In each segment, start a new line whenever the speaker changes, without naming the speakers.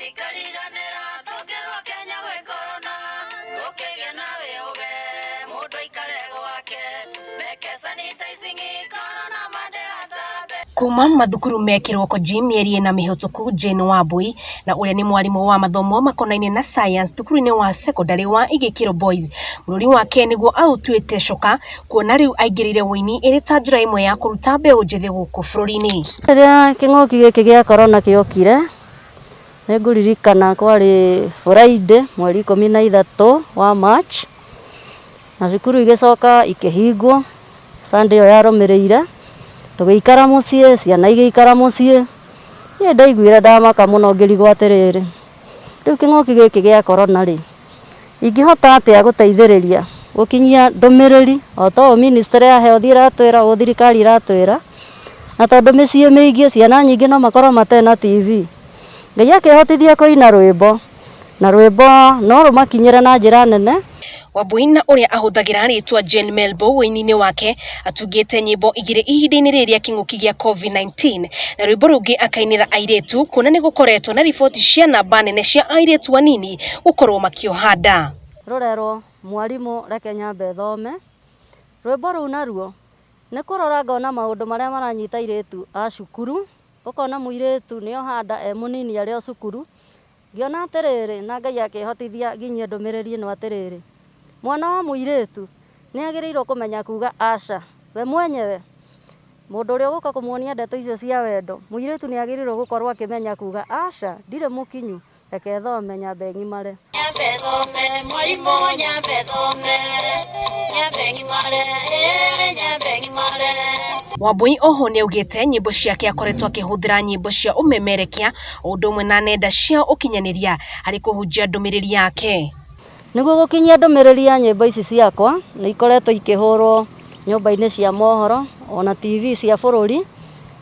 ikariganĩra tũngĩrwo kenya gwĩ korona ũkĩgĩa nawe ũge mũndũ aikare gwake meke sanitizing korona mande atambe Kuuma mathukuru me kĩroko G mĩeri ĩna mĩhĩtũku Jane Wambui na ũrĩa nĩ mwarimũ wa mathomo makonainie na science thukuru-inĩ wa secondary wa Igĩkĩro Boys bũrũri wake nĩguo aũtuĩte coka kuona rĩu aingĩrĩire ũini ĩrĩ ta njĩra ĩmwe ya kũruta mbeũ njĩthĩ gũkũ bũrũri-inĩ. Rĩrĩa kĩng'ũki
gĩkĩ gĩa korona gĩokire, Nĩngũririkana kwarĩ Friday mweri ikũmi na ithatũ wa March, na cukuru igĩcoka ikĩhingwo Sunday ĩyo yarũmĩrĩire, tũgĩikara mũciĩ, ciana igĩikara mũciĩ. Niĩ ndaiguire ndamaka mũno ngĩrigwo atĩrĩrĩ, rĩu kĩng'ũki gĩkĩ gĩa Corona rĩ. Ingĩhota atĩa gũteithĩrĩria gũkinyia ndũmĩrĩri o ta ũũ ministry ya health ĩratwĩra, ũũ thirikari ĩratwĩra? Na tondũ mĩciĩ mĩingĩ ciana nyingĩ no makorwo matarĩ na TV, Ngai akĩhotithia kũina rwĩmbo, na rwĩmbo no rũmakinyĩre na njĩra nene. Wambũi na
ũrĩa ahũthagĩra rĩtwa Jane Melbow ũini-inĩ wake atungĩte nyĩmbo igĩrĩ ihinda-inĩ rĩrĩ rĩa kĩng'ũki gĩa COVID-19 na rwĩmbo rũngĩ akainĩra airĩtu kuona nĩ gũkoretwo na riboti cia namba nene cia airĩtu anini gũkorwo makĩoha nda. rũrerwo
mwarimũ reke nyambe thome, rwĩmbo rũu naruo nĩ kũrora ngona maũndũ marĩa maranyita airĩtu a cukuru, ũkona mũirĩtu nĩ oha nda e mũnini arĩ o cukuru, Ngĩona atĩrĩrĩ, na Ngai akĩhotithia nginyie ndũmĩrĩri ĩno atĩrĩrĩ, Mwana wa mũirĩtu nĩ agĩrĩirũo kũmenya kuuga aca we mwenyewe. Mũndũ ũrĩa ũgũka kũmuonia ndeto icio cia wendo, mũirĩtu nĩ agĩrĩirũo gũkorũo akĩmenya kuuga aca, ndirĩ mũkinyu, reke thome, nyambe ng'imare. Nyambe thome,
mwarimũ, nyambe thome, nyambe ng'imare, ee, nyambe ng'imare. Wambũi
oho nĩaugĩte nyĩmbo ciake akoretwo akĩhũthĩra nyĩmbo cia ũmemerekia o ũndũ ũmwe na nenda cia ũkinyanĩria harĩ kũhunjia ndũmĩrĩri yake. Nĩguo gũkinyia
ndũmĩrĩri ya nyĩmbo ici ciakwa, nĩ ikoretwo ikĩhũrwo nyũmba-inĩ cia mohoro, o na TV cia bũrũri,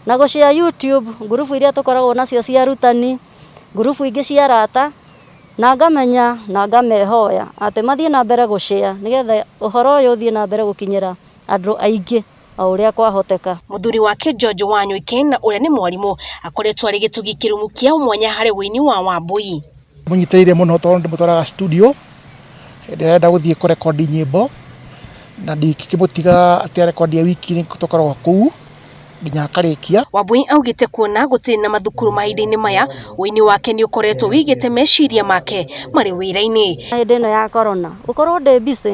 na gũcia YouTube, ngurubu iria tũkoragwo nacio cia arutani, ngurubu ingĩ cia arata, na ngamenya na ngamehoya atĩ mathiĩ na mbere gũshare nĩgetha ũhoro ũyũ ũthiĩ na mbere gũkinyĩra andũ aingĩ. o ũrĩa kwahoteka. Mũthuri wake George
Wanyweke na ũrĩa nĩ mwarimũ, akoretwo arĩ gĩtugi kĩrũmu kĩa mwanya harĩ ũini wa Wambũi. Ndĩmũnyitĩrĩire mũno
tondũ ndĩmũtwaraga studio hĩndĩ ĩrĩa enda gũthiĩ kũrekondi nyĩmbo, na ndingĩkĩmũtiga atĩ arekondi e wiki, nĩ tũkoragwo kũu nginya akarĩkia. Wambũi augĩte
kuona gũtirĩ na mathukuru mahinda-inĩ maya, ũini wake nĩ ũkoretwo wĩigĩte meciria make marĩ wĩra-inĩ. Hĩndĩ ĩno ya korona
gũkorwo ndĩ busy.